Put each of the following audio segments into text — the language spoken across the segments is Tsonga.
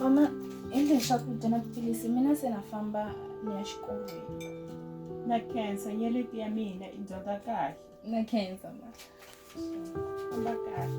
mama endleni swakudya na tiphilisi mina se na famba ni ya xikolweni na khensa nyeleti ya mina i dyondza kahle na khensa ma famba kahle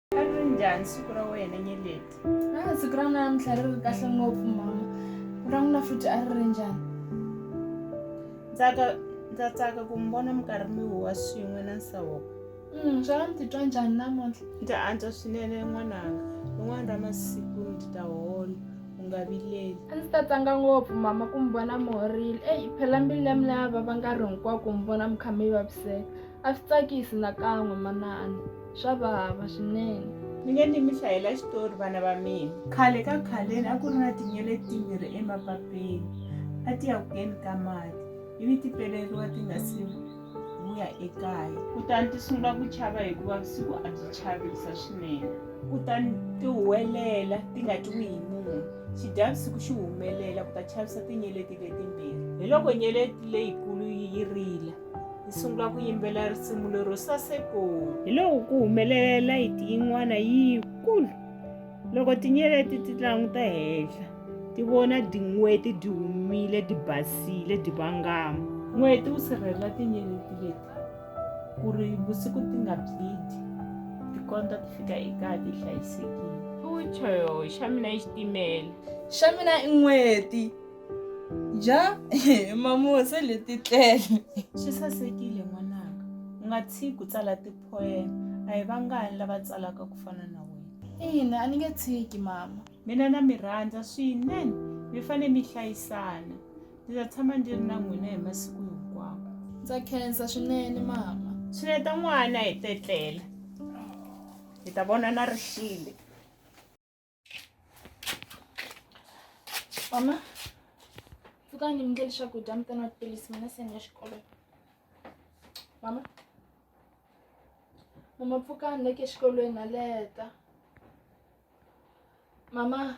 a ri njhani siku ra wena nyeleti a siku ra namuntlha ri ri kahle ngopfu mama ra n'wina futhi a ri ri njhani ntsaka ndza tsaka ku mi vona mi karhi mi huwa swin'we na nsawoko mm, xana mi titwa njhani namuntlha ndza antswa swinene n'wananga rin'wana ra masiku ndzi ta hola u nga vileli a ndzi ta tsanga ngopfu mama ku mi vona mi horile eyi phela mbilu ya mina ya vava nkarhi hinkwaku mi vona mi kha mi vaviseka A swi tsakisi nakan'we manana, swa vava swinene. Mi nge ni mi hlayela xitori vana va mina. Khale ka khaleni a ku ri na tinyele timbirhi emapapeni a ti ya ku keni ka mati ivi ti peleriwa ti nga si vuya ekaya. Kutani ti sungula ku chava hikuva vusiku a byi chavisa swinene. Kutani ti huwelela ti nga twiwi hi munhu. Xidyavusiku xi humelela ku ta chavisa tinyeleti letimbirhi. Hi loko nyeleti leyikulu yi rila. hi sungula ku yimbelela risimu lero saseko hi loko ku humelela layiti yin'wana yikulu loko tinyeleti ti languta henhla ti vona tin'weti ti humile ti basile ti vangama n'weti wu sirhelela tinyeleti leti ku ri vusiku ti nga byidi ti kondza ti fika ekaya ti hlayisekile futsho xa mina i xitimela xa mina i n'weti ja mamuwe se leti tlele swi sasekile n'wananga u nga tshiki ku tsala tiphoyema a hi vangani lava tsalaka ku fana na wena ina a ni nge tshiki mama mina na mi rhandza swinene mi fane mi hlayisana ndzi ta tshama ndzi ri na n'wina hi masiku hinkwawo ndza khensa swinene mama swineta n'wana hi tetlela hi ta vonana ri xile mama pfukani mi ndleli swakudya mi tana tiphilisi mina se ni ya xikolweni mama mama pfukani leke exikolweni na leta mama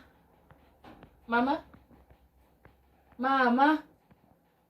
mama mama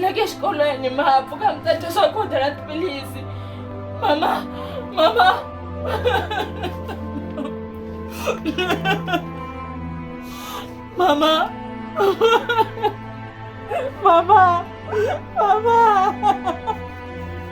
na ke xikolweni ma ha pfuka mi ta dya swakudya na tiphilisi mama mama mama mama mama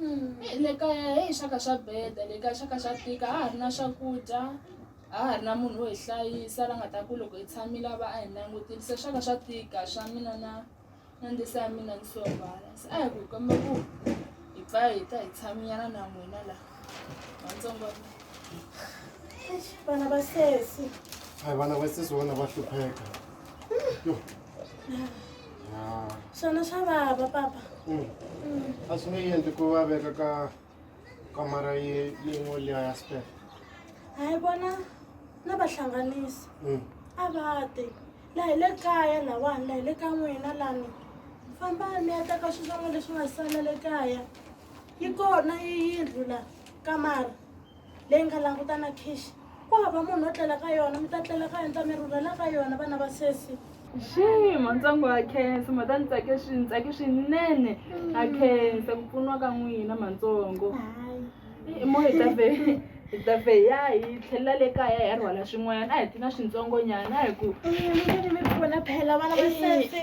Mm, le kaya heyi xaka xa beda le kaya xaka xa tika a ha ri na swakudya a ha ri na munhu wo hi hlayisa la nga ta ku loko hi tshamile a va a hi langutile se swaka swa tika swa mina na na ndisa ya mina ni sovala se a hi ku hi komba ku hi pfa hi ta hi tshaminyana na n'wina la vatsongo vana va sesi a hi vana va sesi vona va hlupheka yo swona swa vava papa hmm. Hmm. a swi nge endli ku va veka ka kamara yin'we liya ya spef hayi vona na vahlanganisi hmm. a va te laha hi le kaya lawani laha hi le ka n'wina lani famba mi ya teka swilo swan'we leswi nga sala le kaya yi kona yi yindlu la kamara leyi nga langutana khishi ku hava munhu wo tlela ka yona mi ta tlela ka yona ta mi rhurhela ka yona vana va sesi xii matsongo wa khensa ma ta ni tsake swi ni tsake swinene a khensa ku pfuniwa ka n'wina matsongo i mo hi ta ve hi ta ve ya hi tlhelela le kaya hi ya rhwala swin'wanyana a hi ti na swintsongonyana a hi ku mi pfuna phela vana va sesi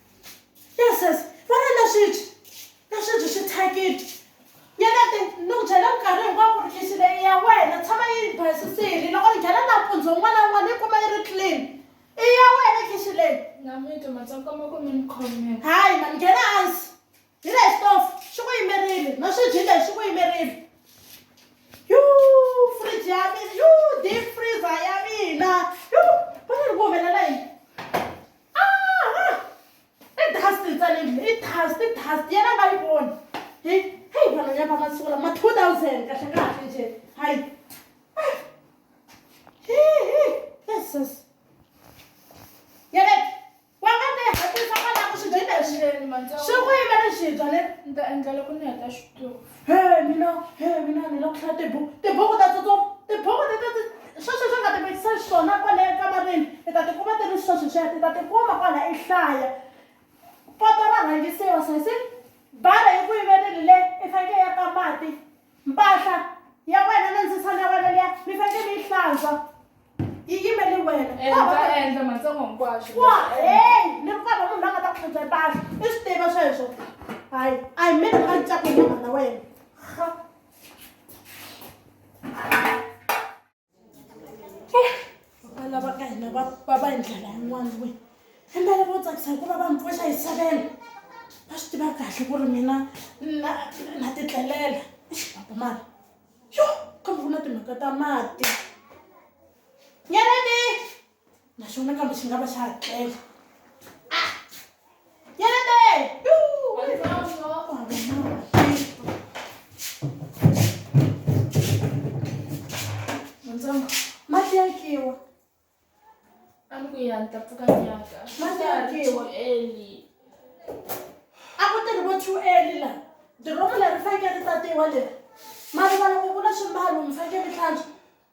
yes yes vona na sweswi na sweswi swi thyakile yena ti ni ku byela minkarhi hinkwaku ri lexi leyi ya wena tshama yi basisile loko ni nghena nampundzu un'wana na un'wana yi kuma yi ri clean i ya wena khixi leyi hayi ma ni nghena hansi Hi le xitofu xi ku yimerile na swiji leswi swi ku yimerile yuu fridge ya mina yuu deep freezer ya mina yuu vona ni ku humelela yini i dust ntsaneni i dust i dust yena nga yi voni hi heyi vanhu ya va masiku lama two thousand kahle kahle nje hayi va nga ta yi hatlisa va lava swi dya hi xileni mantsongo swi ku yimela xi dya ne ni ta endla loko ni heta xitori he mina he mina ni lava ku hlaya tibuku tibuku ta tsutsuma tibuku leti ti sweswi swi nga ti vekisa xiswona kwale ekamareni i ta tikuma ti ri sweswi sweswi i ta tikuma kwala i hlaya poto ra rhangisiwa sesi bara yi ku yimeleli le i fanekele ya ka mati mpahla ya wena na ndzisana ya wena liya mi fanele mi yi hlantswa yi yimeli wena endla matsongo hinkwaswo wa heyi ni ri kona munhu la nga ta ku hlantswa mpahla i swi tiva sweswo hayi a hi mini nga ncaku nyama na wena lava ka hina va va va hi ndlela yin'wana we himbele vo tsakisa hikuva va mi pfuxa hi savela va swi tiva kahle ku ri mina na na titlelela papa mara yo kambe ku na timhaka ta mati nyeleni naxona kambe xi nga va xa ha tlela ah! yelebe mati ya kiwa a ni ku ya ni ta pfuka nyaka mati ya kiwa eli a ku tirhi vo two eli la diromu leri fanekele ri tatiwa leri mari valoko ku na swimbalo mi fanekele mi hlantswa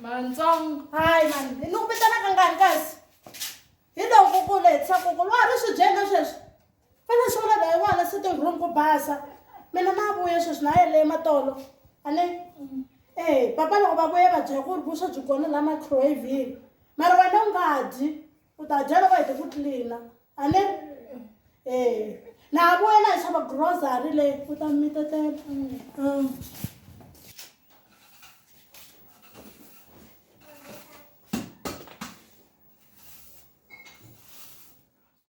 Mantsongo. Hayi mani, ni ku vitana ka ngani kasi? Hi loko ku ku lehisa ku ku lwa ri swi byela sweswi. Vana swi vula laha wala sitting room ku basa mina na vuye sweswi na yele matolo a ni eh papa loko va vuye va byela ku ri vuswa byi kona la microwavini mara wena u nga dyi u ta dya loko hete ku tlilina a ni eh na ha vuye na hi xava grocery leyi u ta mi tetela mm.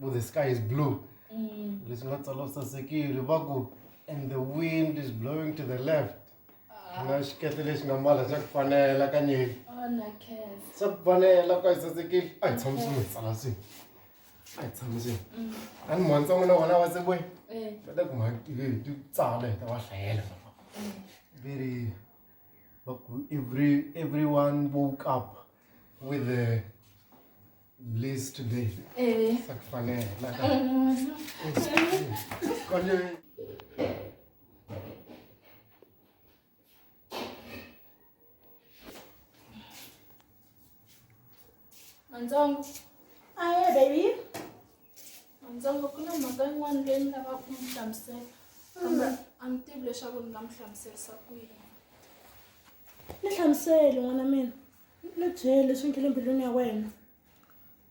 ku the sky is blue mm. leswi nga tsala u sasekile va ku and the wind is blowing to the left ah. na xikete lexi nga mala xa ku fanela ka nyeli xa ku fanela ka yi sasekile a hi tshamisi mi tsala swi a hi tshamisi mm. a ni mhani tsan'wina vona va se boyi eh. va ta ku mhakile hi ti tsala hi ta va hlayela eh. very every everyone woke up with the Bliss today. Eh. Sakfale. Laka. Konje. Manzongo. Ah, yeah, baby. Manzongo, kuna mhaka yin'wana leyi ni lavaka ku mi hlamusela. Kambe a ni tivi leswaku ni nga mi hlamuserisa ku yini. Ni hlamuseli n'wana mina. Ni byele leswi nge le mbilwini ya wena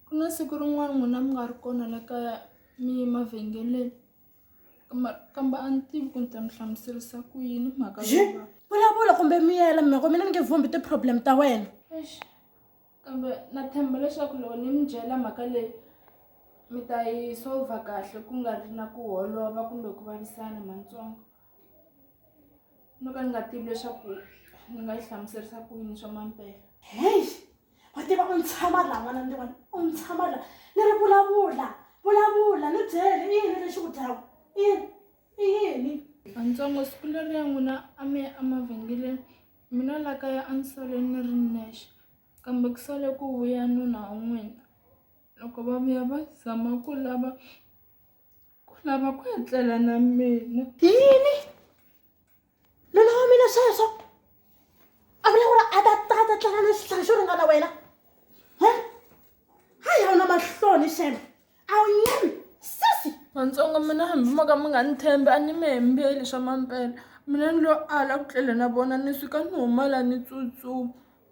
ku na siku rin'wana n'wina mi nga ri kona la kaya mi ye mavhengeleni kambe kambe a ni tivi ku ni ta mi hlamuserisa ku yini mhaka Zhi, leyiwa vulavula kumbe miyela mhaka mina ni nge vhumbi ti-problem ta wena eish kambe na tshemba leswaku loko ni mi byela mhaka leyi mi ta yi solver kahle ku nga ri na ku holova kumbe ku vavisana mantsongo. no ka ni nga tivi leswaku ni nga yi hlamuserisa ku yini swa mampela heyi wa tiva u ni tshama laha n'wana ni tivona u ni tshama laha ni ri vulavula vulavula ni byele i yini lexi ku dyaka i yini i yini antsongo siku leri ya n'wina a mi ya emavhengeleni mina la kaya a ni sale ni ri nexe kambe ku sale ku vuya nuna wa n'wina loko va vuya va zama ku lava ku lava ku etlela na mina yini nuna wa mina sweswo a vula ku ri a ta ta ta tlanga na xihlari xo ringana wena he ha ya na mahloni xeme a wu nyemi sisi matsongo mina hambi mo ka mi nga ni tshembi a ni mi hembeli swa mampela mina ni lo ala ku tlela na vona ni suka ni humala ni tsutsuma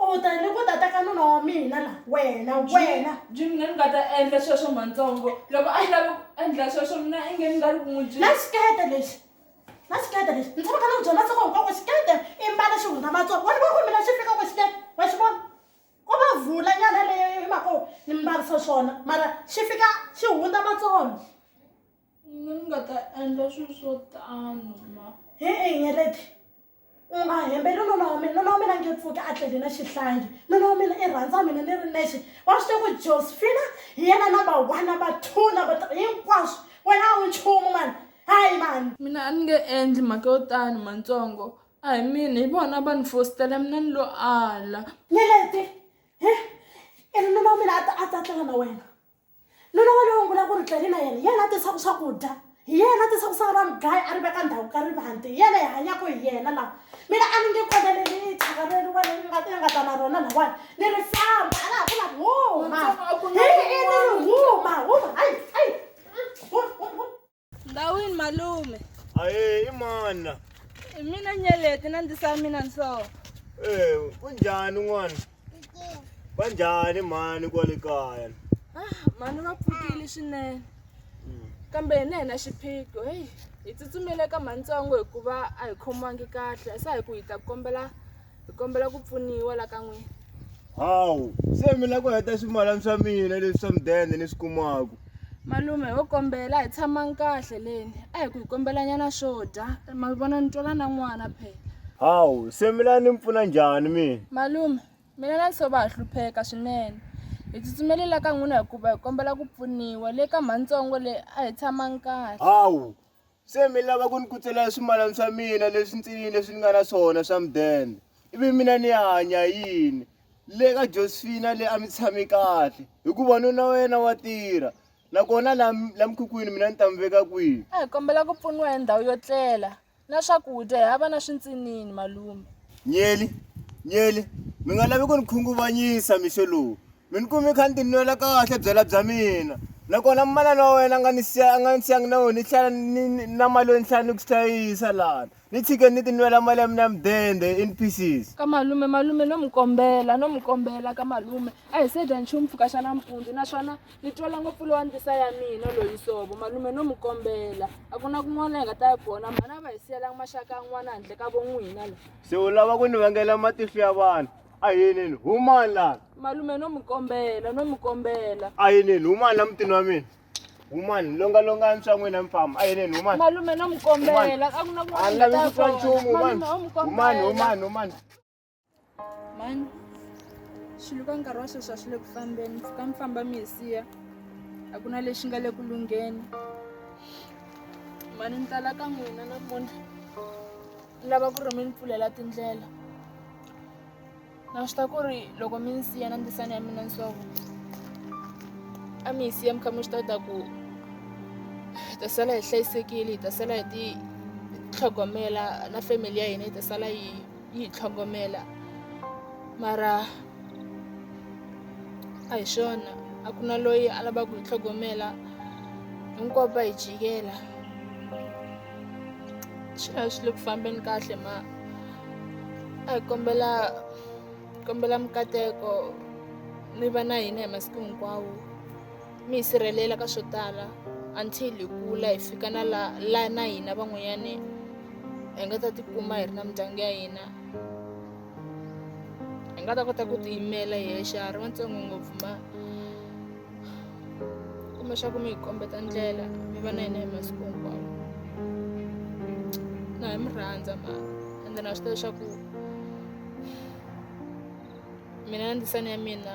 u mu ta ni ku ta teka nuna wa mina la wena wena jimi ni nga ta endla sweswo mantsongo loko a yi lavi ku endla sweswo mina i nge ni nga ri ku n'wi na xikete lexi na xikete lexi ni tshama kha ni ku byela ntsoko hinkwako xikete i mbala xi hundza matsongo wena va ku mina xi fikaka xikete wa xi vona ko va vula nyana leyo hi mhaka ni mbarisa swona mara xi fika xi hundza matsongo ni nga ta endla swilo swo tano ma hi i nyeleti U nga hembeli nuna wa mina, nuna wa mina a nge pfuki a tlele na xihlangi. Nuna wa mina i rhandza mina ni ri nexe. Wa swi tiva ku Josefina hi yena number one, number two, number three, hinkwaswo. Wena a wu nchumu mani, hayi mani. Mina a ni nge endli mhaka yo tano Matsongo. A hi mina, hi vona va ni fositela mina ni lo ala. Nyeleti, he, i ri nuna wa mina a ta a ta tlela na wena. nuna wa lowo ngula ku ri tleli na yena yena a tisaku swakudya hi yena a tisaku sa ra mugaya a ri veka ndhawu ka rivanti hi yena hi hanyako hi yena la mina a ni nge koneleli thyaka leri wa leri nga nga ta na rona lawani ni ri famba a laha ku la huma hi ini ni huma huma hayi hayi ndhawini malume aye imana i mina nyeleti na ndzi sa mina nsoho eh kunjani n'wana va njhani mhani kwale kaya ah, mhani va pfukile swinene hmm. kambe hina hi na xiphiqo heyi hi tsutsumile ka mantsongo hikuva a hi khomiwangi kahle se hi ku hi ta kombela hi kombela ku pfuniwa la ka n'wina hawu se mi lava ku heta swimalani swa mina leswi swa mudende ni swi kumaku malume ho kombela hi tshamani kahle leni a hi ku hi kombelanyana swo dya ma vona ni twela na n'wana phela hawu se mi lava ni mi pfuna njhani mina malume mina na nhlova ha hlupheka swinene hi tsutsumeli la ka n'wina hikuva hi kombela ku pfuniwa le ka mhantsongo leyi a hi tshamani kahle hawu Se mi lava ku ni kutselela swimalana swa mina leswi ntsinini leswi ni nga na swona swa mudende ivi mina ni ya hanya yini le ka josefina leyi a mi tshame kahle hikuva nuna wa yena wa tirha nakona la la mikhukhwini mina ni ta mi veka kwihi a hi kombela ku pfuniwa hi ndhawu yo tlela na swakudya hi hava na swintsinini malume nyeli nyeli mi nga lavi ku ni khunguvanyisa mixo lowu Mi ni kumi kha ni tinwela kahle byala bya mina nakona manana wa wena a nga ni siya a nga ni siyangi na wena ni tlhela ni ni- na mali yo ni tlhela ni ku hlayisa lana ni tshike ni tinwela mali ya mina ya mudende in pieces ka malume malume no mi kombela no mi kombela ka malume a hi se dya nchumu mpfhuka xa nampundzu naswona ni twela ngopfu lowa ndlisa ya mina loyi sovo malume no mi kombela a ku na kun'wana hi nga ta ya kona mhana a va hi siyelanga maxaka an'wana handle ka von'wina la se u lava ku ni vangela matihlo ya vanhu a yinini humani lana malume no mi kombela no mi kombela a yinini humani la mutini wa mina humani longalongani swa n'wina mi famba a yinini humani malume no mi kombela a ku na a ni lavi ku twa nchumu humani humani humani humani mani xilo ka nkarhi wa sweswi a swi le ku fambeni mpfuka mi famba mi hi siya a ku na lexi nga le ku lungheni mani ni tala ka n'wina namuntlha ni lava ku ri mi ni pfulela tindlela na swi ta ku ri loko mi ni siya na ndzisana ya mina nsovo a mi yi siya mi kha mi swi ta ta ku hi ta sala hi hlayisekile hi ta sala hi ti tlhogomela na family ya hina yi ta sala yi yi hi tlhogomela mara a hi swona a ku na loyi a lavaka ku hi tlhogomela hinkwavo va hi jikela swi nga swi le ku fambeni kahle ma a hi kombela kombela mikateko mi va na hina hi masiku hinkwawo mi hi sirhelela ka swo tala until hi kula hi fika na la la na hina van'wanyani hi nga ta tikuma hi ri na mindyangu ya hina hi nga ta kota ku tiyimela hi yexe a ri vatsongo ngopfu ma kuma xa ku mi hi kombeta ndlela mi va na yena hi masiku hinkwawo na hi mi rhandza ma ende na swi tiva leswaku mina na ndzisana ya mina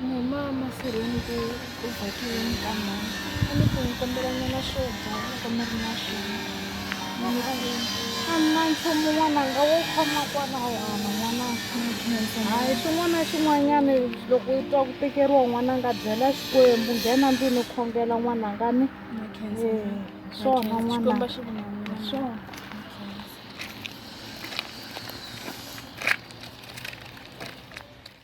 Mhama mafurheni ku ku bakiwe minkama a ni ku ni kombela nyana swo dya loko mi ri na swona a ni na nchumu n'wananga wo khoma kwalaho hava n'wananga hayi xin'wana na xin'wanyana loko u twa ku tekeriwa n'wananga byela xikwembu nghena ndlwini u khongela n'wananga ni swona n'wananga swona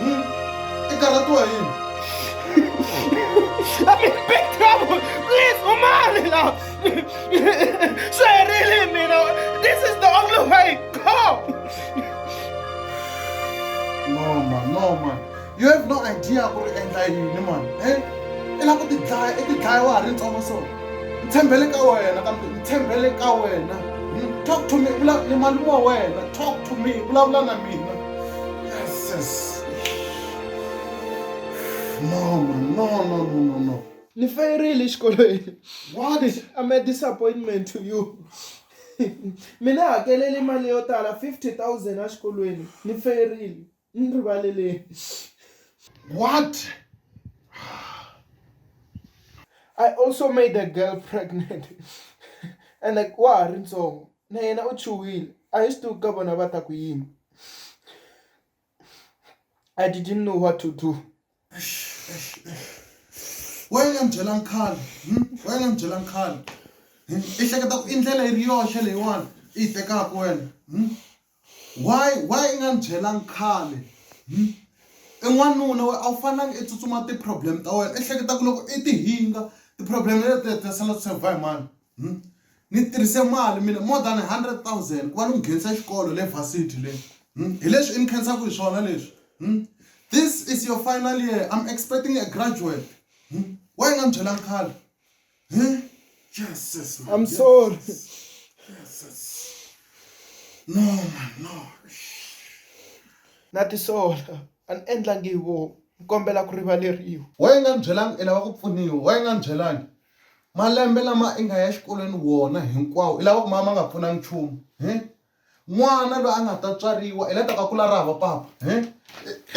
Hmm? I karhatiwa yini? I'm in big trouble! Please, umani la! Swi herile mina! This is the only way! Go! No man, no man. You have no idea ku ri endla yini man. Eh? I lava ku ti dlaya, i ti dlaya wa ha ri ntsongo so. Ni tshembele ka wena kambe ni tshembele ka wena. Hmm? Talk to me, vula ni malume wa wena. Talk to me, vulavula na mina. Yes. No, man. No, no, no, no, no. Ni fayerile xikolweni. What? I'm a disappointment to you. Mina hakelele mali yo tala 50,000 a xikolweni. Ni fayerile. Ni rivalele. What? I also made a girl pregnant. And like, wa ha ri ntsongo. na yena u chuhile a hi swi tivi ku ka vona va ta ku yini I didn't know what to do. Why nga ni byelangi khale hmm? why nga ni byelangi khale hmm? i hleketa ku i ndlela yi ri yoxe leyiwani i yi tekaka wena hmm? Why why i nga ni byelanga khale i n'wanuna wena a wu fanelanga i tsutsuma ti-problem ta wena i hleketa ku loko i ti hinga ti-problem letiya ti ta sala ti solve-a hi mani ni tirhise mali mina more than hundred thousand ku va ni n'wi nghenisa xikolo le varsity le hi leswi i ni khensaka hi swona leswi this is your final year I'm expecting a graduate why i nga ni byelanga khale. Huh? Jesus, man. I'm yes. sorry. Jesus. No, man, no. Na tisola. An endlangi vo. Kombela ku rivaleriwa. Wa yi nga ni byelangi i lava ku pfuniwa. Wa yi nga ni byelangi. Malembe lama i nga ya xikolweni wona hinkwawo i lava ku ma ma nga pfunangi nchumu. Huh? n'wana loyi a nga ta tswariwa hi la taka kula ra hava papa hi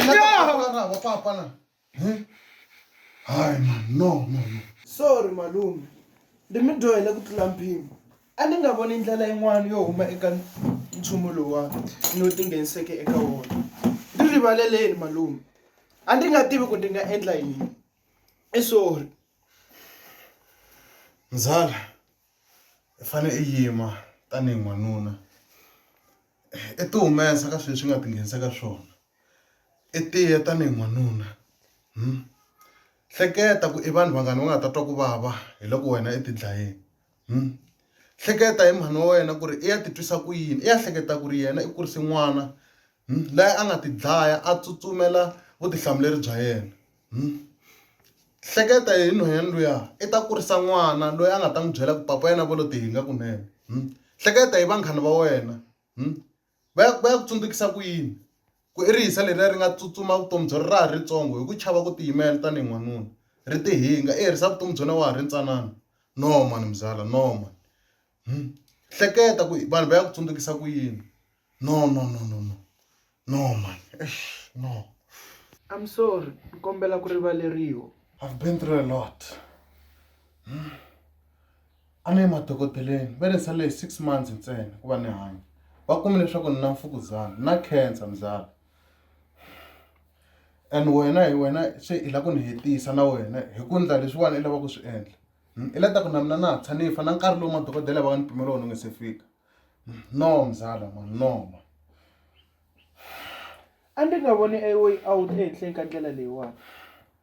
la taka kula ra hava papa na Hey. Hayi man, no, no, no. Sorry malume. Ndi mi dyohele ku tlula mpimo. A ni nga voni ndlela yin'wana yo huma eka nchumu lowa ni wu tingheniseke eka wona. Ni rivaleleni malume. A ndi nga tivi ku ndi nga endla yini. I sorry. Mzala, i fane i yima tanihi n'wanuna. I ti humesa ka sweswi nga tinghenisa ka swona. i tiya tanihi n'wanuna hleketa ku i vanhu vangani va nga ta twa ku vava hi loko wena i ti dlayini hleketa hi mhani wa wena ku ri i ya ti twisa ku yini i ya hleketa ku ri yena i kurise n'wana la a nga ti dlaya a tsutsumela vutihlamuleri bya yena hleketa hi nhwanyana luya i ta kurisa n'wana loyi a nga ta n'wi byela ku papa yena va lo ti hinga kunene hleketa hi vanghana va wena. Va ya va ya ku tsundzukisa ku yini? Ku i rihisa leriya ri nga tsutsuma vutomi bya ra ha ri ritsongo hi ku chava ku tiyimela tanihi n'wanuna, ri tihinga, i herisa vutomi bya wena wa ha ri ntsanana. No mhani mzala, no mhani. Hmm. Hleketa ku vanhu va ya ku tsundzukisa ku yini. No, no, no, no, no. No mhani, eish, no. I'm sorry, ni kombela ku rivaleriwa. I've been through a lot. Hmm. A ni ye madokodeleni va ni salele hi six months ntsena ku va ni hanya va kume leswaku ni na mfukuzana na cancer muzala and wena hi wena se i lava ku ni hetisa na wena hi ku endla leswiwani i lava ku swi endla i la ta ku na mina na tshama ni fa na nkarhi lowu madokodela va nga ni pimela wona wu nga se fika no muzala ma no ma a ndzi nga voni a way out ehenhleni ka ndlela leyiwani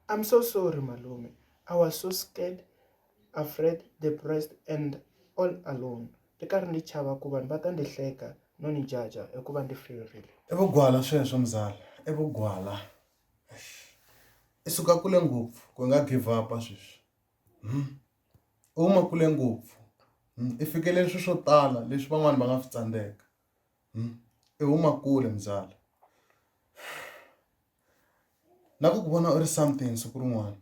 I'm so sorry malume I was so scared. afraid, depressed and all alone ni karhi ni chava ku vanhu va ta ni hleka no ni jaja hikuva ni ferile i vugwala sweswo mzala i vugwala i suka kule ngopfu ku nga give up sweswi hmm? u huma kule ngopfu hmm? i fikeleli swi swo tala leswi van'wana va nga swi tsandzeka hmm? i huma kule mzala na ku ku vona u ri something siku rin'wana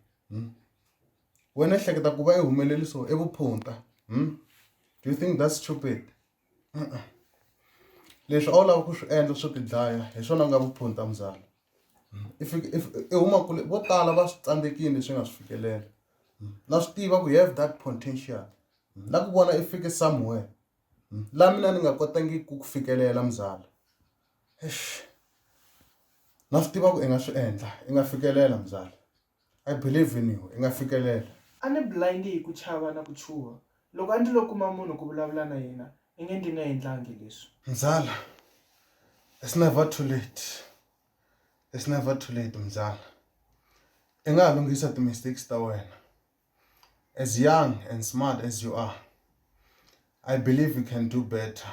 wena ehleketa ku va i humeleriso i vuphunta do you think that's stupid leswi a wu lava ku swi endla swo tidlaya hi swona ku nga vuphunta muzala i fike i huma kule vo tala va swi tsandzekile leswi nga swi fikelela na swi tiva ku you have that potential na ku vona i fike somewhere la mina ni nga kotangi ku ku fikelela muzala na swi tiva ku i nga swi endla i nga fikelela mzala I believe in you i nga fikelela. A ni blind hi ku chava na ku chuha loko a ndi lo kuma munhu ku vulavula na yena i nge ndi nga endlangi leswi. Mzala it's never too late it's never too late mzala i nga ha lunghisa ti mistakes ta wena as young and smart as you are I believe you can do better.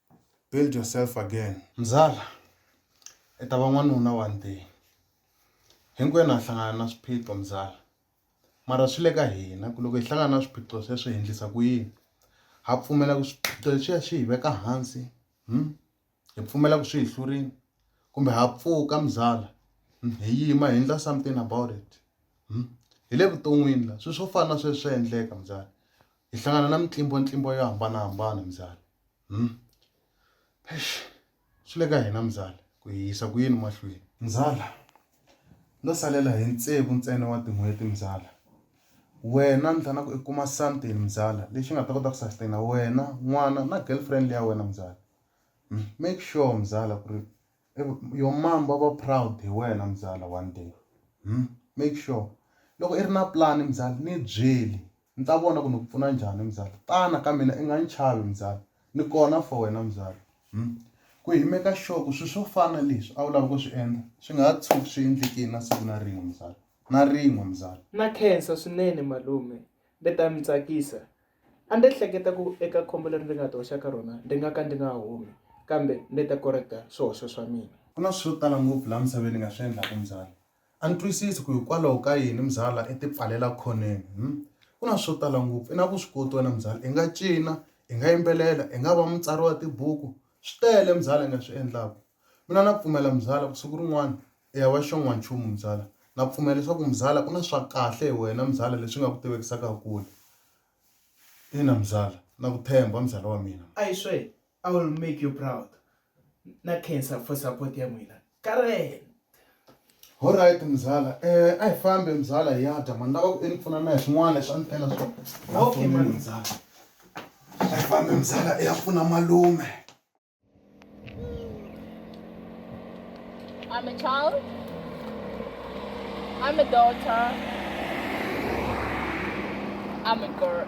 build yourself again. Mzala i ta va n'wanuna one day hinkwenu ha hlangana na swiphiqo mzala mara swi le ka hina ku loko hi hlangana na swiphiqo sweswo hi endlisa ku yini ha pfumela ku swiphiqo leswiya swi hi veka hansi hmm? hi pfumela ku swi hi hlurini kumbe ha pfuka mzala hmm? hi yima hi endla something about it hmm? hi le vuton'wini la swilo swo fana na sweswi swa endleka mzala hi hlangana na mitlimbo ntlimbo yo hambanahambana mzala Hmm? Eish, swi le ka hina mzala ku hi yisa ku yini mahlweni. Mzala, no salela hi ntsevu ntsena wa tin'hweti mzala. Wena ni fanele ku i kuma something mzala lexi nga ta kota ku sustain-a wena, n'wana na girlfriend ya wena mzala. Hmm? Make sure mzala ku ri your mom va va proud hi wena mzala one day. Hmm? Make sure loko i ri na plan mzala ni byeli Ni ta vona ku ni ku pfuna njhani mzala. Tana ka mina i nga ni chavi mzala, ni kona for wena mzala. Umm. Ku hi make sure ku swilo swo fana na leswi a wu lava ku swi endla swi nga ha tshuki swi endlekile na siku na rin'we mzala, na rin'we mzala. Na khensa swinene malume, mi ta ni tsakisa. A ni hleketa ku eka khombo leri ndzi nga ti hoxa ka rona ndzi nga ka ndzi nga humi, kambe ndzi ta correct-a swihoxo swa mina. Ku na swilo swo tala ngopfu laha misaveni ni nga swi endlaka mzala. A ni twisisi ku hikwalaho ka yini mzala i ti pfalela khoneni hm ku na swo tala ngopfu i na vuswikoti wena mzala i nga cina i nga yimbelela i nga va mutsari wa tibuku swi tele mzala i nga swi endlaka mina na pfumela mzala ku siku rin'wana i ya va xon'wanchumu mzala na pfumela leswaku mzala ku na swa kahle hi wena mzala leswi nga ku tivekisaka kule ina mzala na ku tshemba mzala wa mina. Ayiswe I will make you proud na cancer for support ya n'wina Karen Alright mzala eh a hi fambe mzala hi ya dya mani lava ku ni pfuna na hi swin'wana leswi a ni tela swona okay mani mzala a hi fambe mzala i ya pfuna malume I'm a child. I'm a daughter. I'm a girl.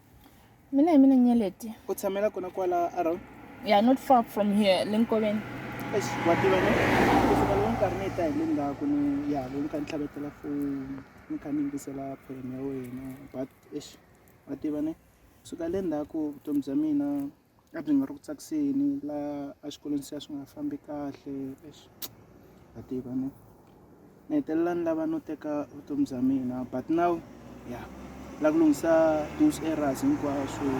mina hi mina nyeleti u tshamela kona kwala around yeah not far from here le nkoveni eish wa tiva ne kusuka loko nkarhi ni ta hi le ndzhaku ni ya loko ni kha ni tlhavetela foni ni kha ni yingisela phone ya wena but eish wa tiva ne kusuka le ndzhaku vutomi bya mina a byi nga ri ku tsakiseni la a xikolweni se a swi nga fambi kahle eish ha tiva ne ni hetelela ni lava no teka vutomi bya mina but now ya la ku lunghisa those errors hinkwaswo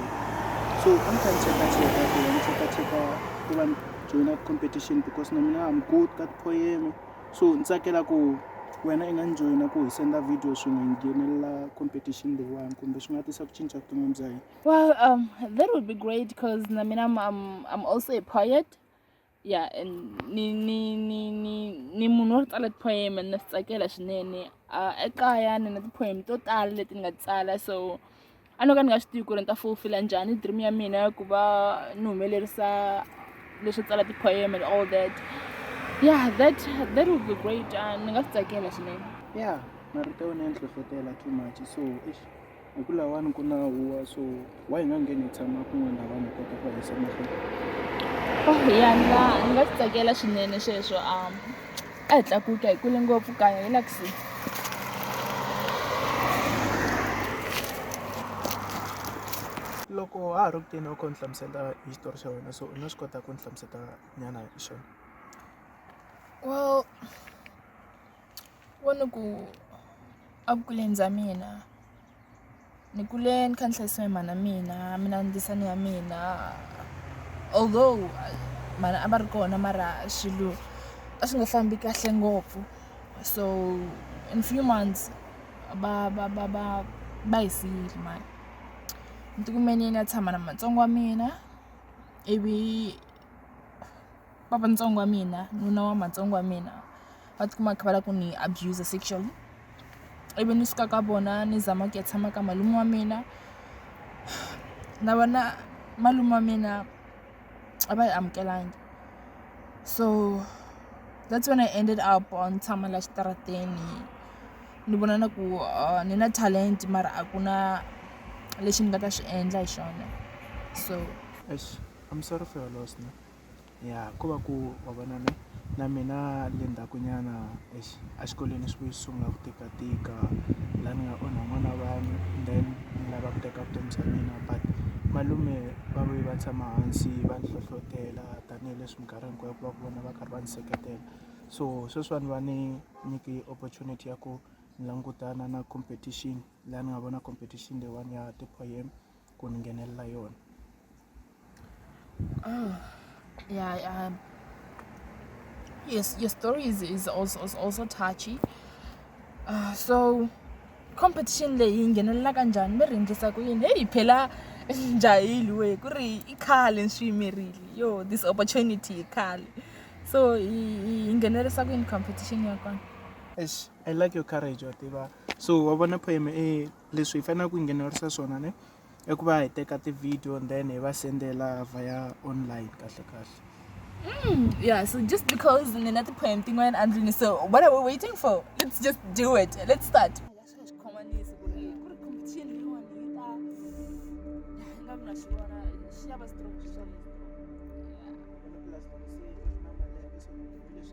so a ni kha ni cheka cheka ku ni cheka cheka ku va ni joyina competition because na mina am good ka ti-poem so ni tsakela ku wena i nga ni joyina ku hi senda video swin'we hi nghenelela competition leyiwani kumbe swi nga tisa ku cinca vuton'wini bya hina Well, um, that would be great because I mean, I'm, I'm, I'm also a poet. Yeah, and ni ni ni ni ni munhu wo tsala poem and that's like ela swinene. Ah, ekaya ni na poem to tala leti nga tsala so a no ka ni nga swi tivi ku ri ni ta fulfilla njhani dream ya mina ya ku va ni humelerisa leswo tsala ti-poem and all that yeah that that would be great uh, ni nga swi tsakela swinene yeah marito ya wena ya ni hlohlotela too much so Hi ku lawani ku na huwa so why hi nga ngheni hi tshama kun'wana na vanhu kota ku hanyisa mahlweni oh ya nga ni nga swi tsakela swinene sweswo um a hi tlakuka hi kule ngopfu kaya hi lakusi loko ha ha ri kuteni u kho ni hlamusela hi xitori xa wena so u nga swi kota ku ni hlamuseta nyana hi xona well wo ni ku a vukuleni bya mina ni kule ni kha ni hlayisiwa hi mhana mina mina ni ndisani ya mina although mhana a va ri kona mara swilo a swi nga fambi kahle ngopfu so in few months va va va va va hi siyile mhani ni tikume ni ya ni ya tshama na matsongo wa mina ivi. papa ntsongo wa mina nuna wa matsongo wa mina va tikuma kha va lava ku ni abuser sexually ivi ni suka ka vona ni zama ku ya tshama ka malume wa mina na vona malume wa mina a va yi amukelanga so that's when i ended up on tshama la xitarateni ni vona na ku uh, ni na talent mara a ku na lexi ni nga ta xi endla hi xona so Eish, I'm sorry for your loss. Ne? ya ko va ku wa vona ne na mina le ndzhaku nyana exi a xikolweni swi vuye swi sungula ku tika tika laha ni nga onha n'wana wa vanhu then ni lava ku teka vutomi bya mina but malume va vuye va tshama hansi va ni hlohlotela tanihileswi minkarhi hinkwayo ku va ku vona va karhi va ni seketela so sweswiwani va ni nyike opportunity ya ku langutana na competition laha ni nga vona competition leyiwani ya ti-poem. ku ni nghenelela yona oh yeah um, your, your story is, is also, is also touchy uh, so competition leyi yi nghenelela ka njhani mi rindlisa ku yini heyi phela njhayili we ku ri i khale ni swi yimerile yo this opportunity yi khale so yi nghenelerisa ku yini competition ya kona i like your courage wa tiva so wa vona poem e leswi hi faneleke ku nghenelerisa swona ne i ku va hi teka ti-video and then hi va sendela via online kahle kahle Mm, yeah, so just because Nina the poem thing went and Luni, so what are we waiting for? Let's just do it. Let's start. Yeah.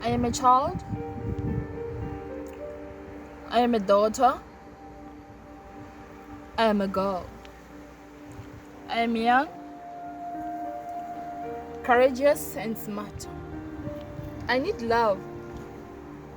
I am a child. I am a daughter. I am a girl. I am young, courageous, and smart. I need love.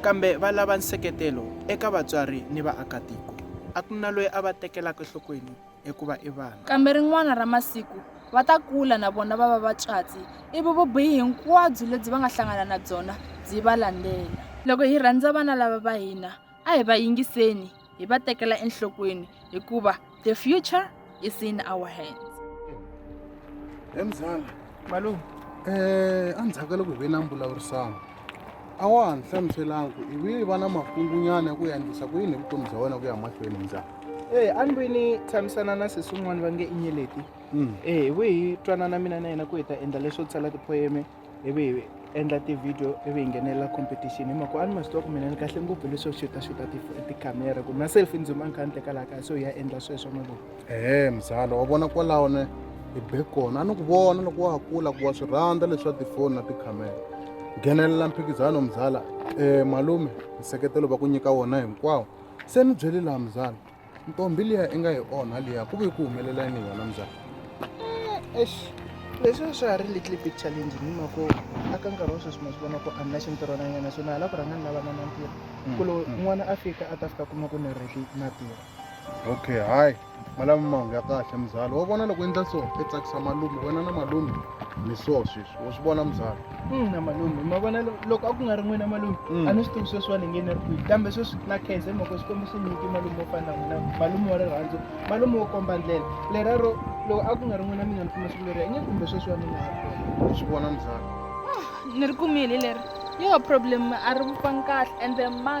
Kambe va lava nseketelo eka vatswari ni vaakatiko. A ku na loyi a va tekelaka enhlokweni hikuva i vana. Kambe rin'wana ra masiku, va ta kula na vona va va vatswatsi, ivi vubihi hinkwabyo lebyi va nga hlangana na byona byi va landzela. Loko hi rhandza vana lava va hina, a hi va yingiseni. hi va tekela enhlokweni hikuva the future is in our hands emzala malume um endzhaku ka loko hi ve na mbulavurisano a wa ha ni hlamuselanga ku i vuye va na makungunyana ya ku yandlisa ku yini hi vutomi bya wena ku ya mahlweni njhani e a ni vuye ni tshamisana na sesi un'wana va nge inyeleti e hi vuye hi twanana mina na yena ku hi ta endla leswo tsala tipoyeme ivi hi endla ti-video ivi hi nghenelela competition hi mhaka a ni ma swi tiva ku mina ni kahle ngopfu leswo xuta xuta tikhamera ku na selfie ndzi ma ni kha ni teka laha kaya so hi ya endla sweswo ma vona ehe mzala wa vona kwalaho ne hi be kona a ni ku vona loko wa ha kula ku wa swi rhandza leswa tifoni na tikhamera nghenelela mphikizano mzala um malume nseketelo va ku nyika wona hinkwawo se ni byele laha mzala ntombi liya i nga yi onha liya ku ve ku humelela yini hi yona mzala eh, ex leswi swa ha ri little big challenge ni mako a ka nkarhi wa sweswi ma swi vona ku a ni na xintirhonanyana so na ha la ku rhanga ni lavana na ntirho mm, ku lo mm. n'wana a fika a ta fika kuma ku ni reki na tirho okay hayi malava mahungu ya kahle mzala wa vona loko endla so i tsakisa malume wena na malume ni so sweswi wa swi vona mzala ina malume ma vona lo- loko a ku nga ri n'wina malume Mm. a ni swi tivi sweswiwani nge ni ri kwihi kambe sweswi na khenze mhaka xikwembu xi nyiki malume wo fana na n'wina malume wa rirhandzu malume wo komba ndlela lerero loko a ku nga ri n'wina mi nga ni kuma siku leriya inge kumbe sweswiwani ni nga ha kona u swi vona muzala ni ri kumile leri yo problem a ri vufangi kahle ende ma